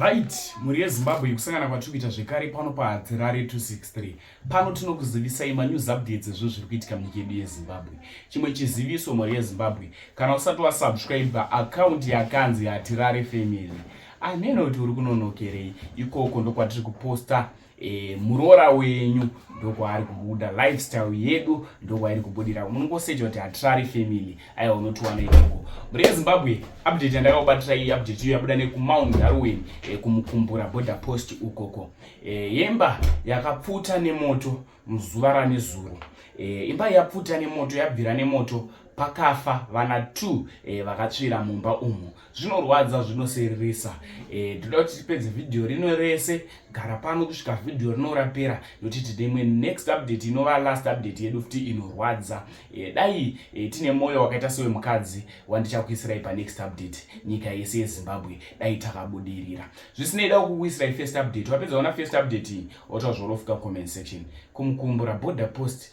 right mhuri yezimbabwe yekusangana kwatiri kuita zvekare pano pahadzirare 263 pano tinokuzivisai manews updates ezvo zviri kuitika munyika yedu yezimbabwe chimwe chiziviso mhuri yezimbabwe kana usati wasubscribe akaunti yakanzi hatirare family aneno kuti uri kunonokerei ikoko ndokwatiri kuposta e, muroora wenyu ndokwaari kubuda lifestyle yedu ndokwairi kubudira unongoseja kuti hatirari family aiwa unotiwana ikoko mhuri yezimbabwe update yandakakubatira iyi update iyo yabuda nekumount darwin e, kumukumbura border post ukoko e, yemba yakapfuta nemoto muzuva ranezuro e, imba yapfuta nemoto yabvira nemoto pakafa vana t e, eh, vakatsvira mumba umu zvinorwadza zvinoseririsa e, eh, toda kuti tipedze vhidhiyo rino rese gara pano kusvika vhidhiyo rino rapera nokuti tine imwe next update inova last update yedu futi inorwadza e, dai e, tine mwoyo wakaita sewemukadzi wandichakuisirai panext update nyika yese yezimbabwe dai takabudirira zvisinei da kukuisirai first update wapedza ona first update iyi otozvorofuka comment section kumukumbura border post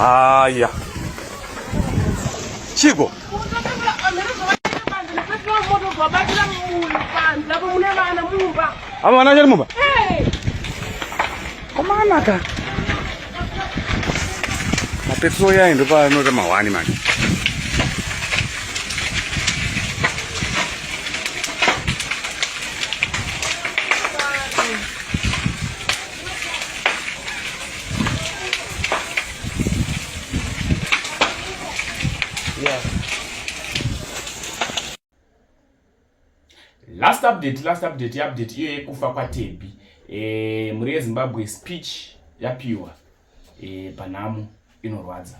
Haya, Chico. Ama wana jari mumba? Koma anaka. Mapepo ya ndo pa no kama wani mani. last update last update update iyo yekufa kwatebi e, mhuri yezimbabwe speech yapiwa e, panhamo inorwadza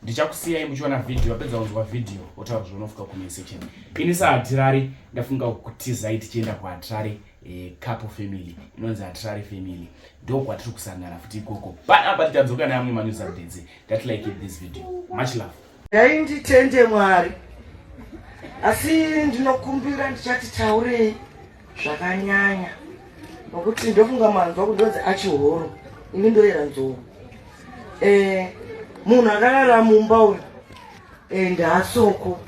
ndichakusiyai muchiona vhidhiyo wapedza kunzwa vhidhiyo wotaura zvaunofika kumain section ini saatirari ndafunga kutizai tichienda kuatirari eh, couple family inonzi atirari family ndo kwatiri kusangana futi ikoko panapa titadzoka neamwe manews updates that like this video much love Dai nditende Mwari, asi ndinokumbira ndichati taurei zvakanyanya nokuti ndofunga manzwa kudodzi achihoro ini ndoyera nzou eh, munhu akarara mumba uyu eh, ndaasoko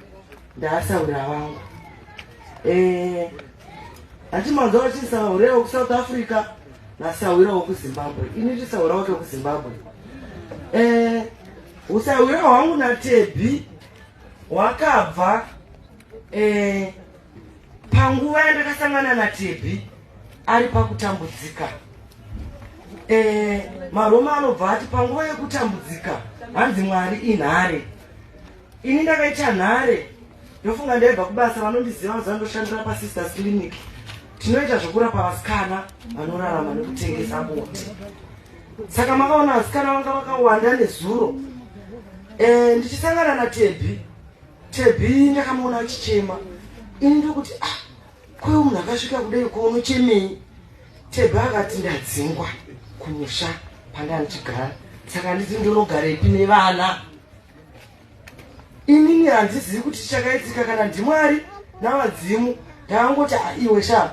ndaasaura vangu eh, hati manzwa vachisahure wekusouth africa nasahwira wekuzimbabwe ini ndisaura wake wekuzimbabwe eh, Usahwira hwangu naTebhi hwakabva eh, panguva yandakasangana naTebhi ari pakutambudzika eh, maroma anobva ati panguva yekutambudzika hanzi mwari inhare ini ndakaita nhare ndofunga ndaibva kubasa vanondiziva mazuva ndoshandira pasisters clinic tinoita zvekurapa vasikana vanorarama nekutengesa bonde saka makaona vasikana vanga vakawanda nezuro eh, ndichisangana natebhi tebhi ndakamuona achichema ini ndokuti ah kweu munhu akasvika kudai kwaunochemei tebhi akati ndadzingwa kumusha pandanga ndichigara saka nditi ndonogarepi nevana inini handizivi kuti chakaitika kana ndimwari navadzimu ndakangoti ah, iwe shaa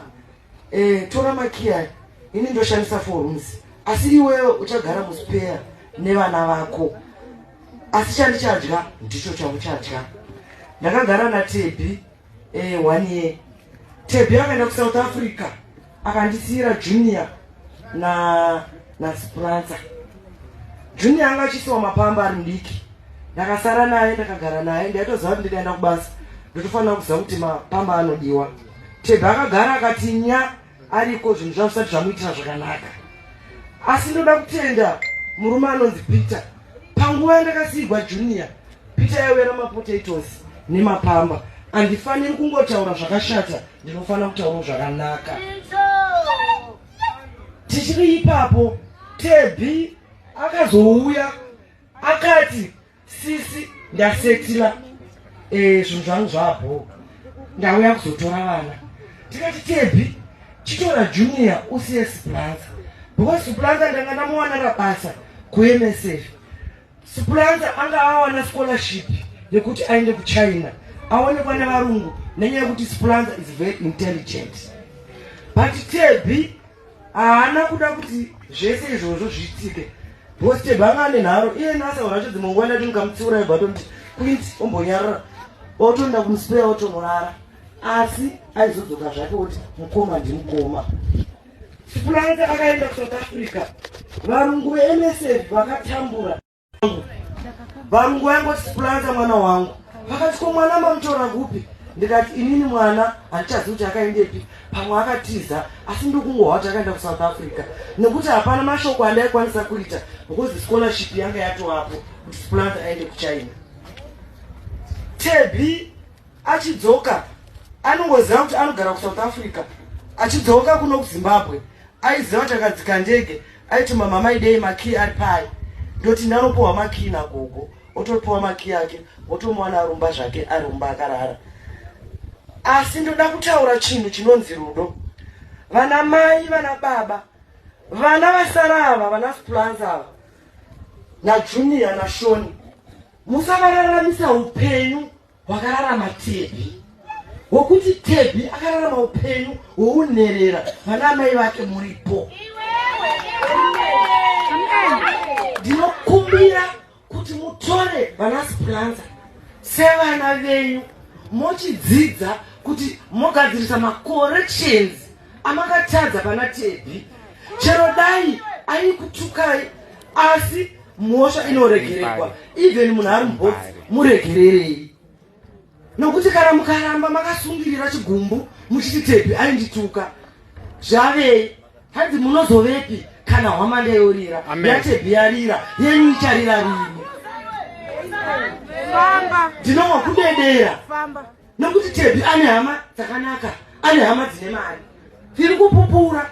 Eh, tora makiya ini ndoshandisa four rooms asi iwewe uchagara muspeya nevana vako asi chandichadya ndicho chauchadya ndakagara natebi eh, one year tebi akaenda kusouth africa akandisiira junior na nasipransa junior anga achisiwa mapamba ari mudiki ndakasara naye ndakagara naye ndaitoziva kuti ndikaenda kubasa ndotofanira kuziva kuti mapamba anodiwa Tebha akagara akati nya ariko zvinhu zvavo zvisati zvamuitira zvakanaka asi ndoda kutenda murume anonzi peter panguva yandakasiigwa junior peter yaiuya namapotatoes nemapamba handifaniri kungotaura zvakashata ndinofanira kutaura zvakanaka tichiri ipapo tebhi akazouya akati sisi ndasetila eh, zvinhu zvangu zvabhoo ndauya kuzotora vana tikati tebhi chitora junior usiye suplanza because suplanza ndanga ndamuwana rabasa kumsf suplanza anga awana scholarship yekuti aende kuchina aonekwa nevarungu nenyaya yekuti suplanza is very intelligent but tebhi haana kuda kuti zvese izvozvo zviitike bhosi chebhanga ane nharo iye nasaura acho dzimwe nguva ndati ndikamutsiura ibva tonti quint ombonyarara otoenda kumusipera otonorara asi aizodzoka zvake kuti mukoma ndimukoma sipulanga akaenda kusouth africa varungu vemsf vakatambura varungu vayangoti splanta mwana wangu vakati ko mwana mamutora kupi ndikati inini mwana handichazivi kuti akaendepi pamwe akatiza asi ndikungohwa kuti akaenda kusouth africa nekuti hapana mashoko andaikwanisa kuita because scholarship yanga yatovapo kuti splant aende kuchina tebi achidzoka anongoziva kuti anogara kusouth africa achidzoka kuno kuzimbabwe Aiziva kuti akadzika ndege aituma mama idei makii ari pai ndoti ndanopuwa makii nagogo otopuwa makii ake wotomuwana arumba zvake arumba akarara asi ndoda kutaura chinhu chinonzi rudo vana mai vana baba vana vasara ava vana splans ava najunior nashoni musavarararamisa upenyu Wakararama Tebhi, wokuti Tebhi akararama upenyu hwounherera vana amai vake muripo. Ndinokumbira kuti mutore vana Splanza sevana venyu mochidzidza kuti mogadzirisa macorrections amakatadza pana Tebhi chero dai aikutukai asi mhosva inoregerekwa even munhu ari mubhotsi muregererei nokuti kana mukaramba makasungirira chigumbu muchiti tepi aindituka zvavei hanzi munozovepi kana hwamanda yorira yatepi yarira yenyu icharira rini ndinowa kudedera nekuti tebhi ane hama dzakanaka ane hama dzine mari tiri kupupura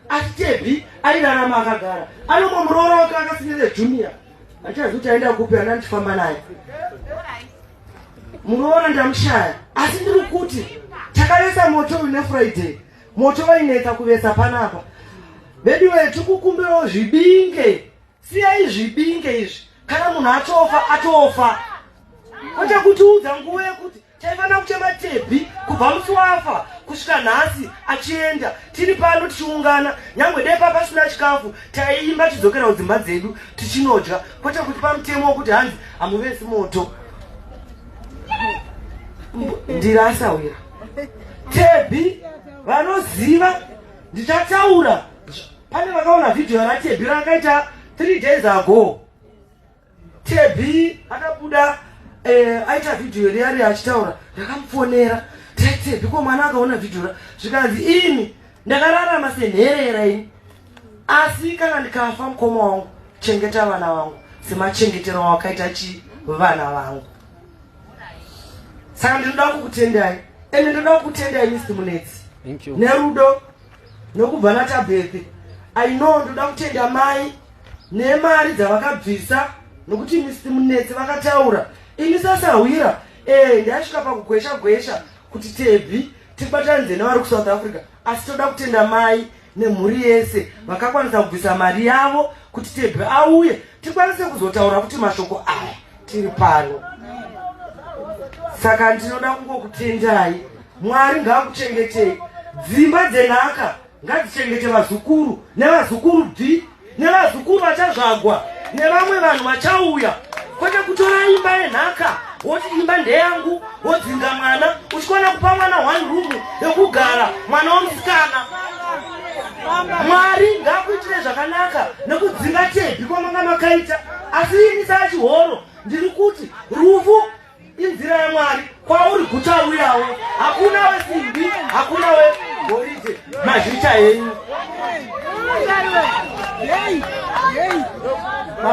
asi tebhi airarama akagara anongo muroora wake akasinire junior handichazi kuti aenda kupi ana ndifamba naye muroora ndamushaya asi ndiri kuti takavesa moto une friday moto vainetsa kuvesa panapa veduwe tikukumbirawo zvibinge Siyai zvibinge izvi kana munhu atofa atofa kwete kutiudza nguva yekuti taifanira kuchema tebhi kubva musi wafa kusvika nhasi achienda tiri pano tichiungana nyangwe dai pa pasina chikafu taiimba tidzokera kudzimba dzedu tichinodya kwete kuti pamutemo wekuti hanzi hamuvesi moto ndiri asawira tebhi vanoziva ndichataura pane vakaona vhidhiyo ratebi rakaita three days ago tebi akabuda eh, aita vhidhiyo riyari achitaura ndakamufonera tebi ko mwana akaona vhidhiyo ra zvikanzi ini ndakararama senherera ini asi kana ndikafa mukoma wangu chengeta vana vangu semachengetero wakaita chi vana vangu saka ndinoda kukutendai ende ndoda kukutendai misi munetsi nerudo nokubva natabhethi i know ndoda kutenda mai nemari dzavakabvisa nokuti misi munetsi vakataura ini sasahwira ee eh, ndaisvika pakugwesha gwesha kuti tebhi tibatanidze nevari kusouth africa asi toda kutenda mai nemhuri yese vakakwanisa kubvisa mari yavo kuti tebhi auye tikwanise kuzotaura kuti mashoko aya tiri pano saka ndinoda kungokutendai mwari ngaakuchengetei dzimba dzenhaka ngadzichengete vazukuru nevazukuru d nevazukuru vachazvagwa nevamwe vanhu vachauya kwete kutora imba yenhaka woti imba ndeyangu wodzinga mwana uchikwana kupa mwana one room yokugara mwana womusikana mwari ngakuitire zvakanaka nekudzinga tebhi kwamanga makaita asi ini saa chihoro ndiri kuti rufu inzira yamwari kwauri guchauyawo hakuna wesimbi hakuna wegoridhe mazvita henyu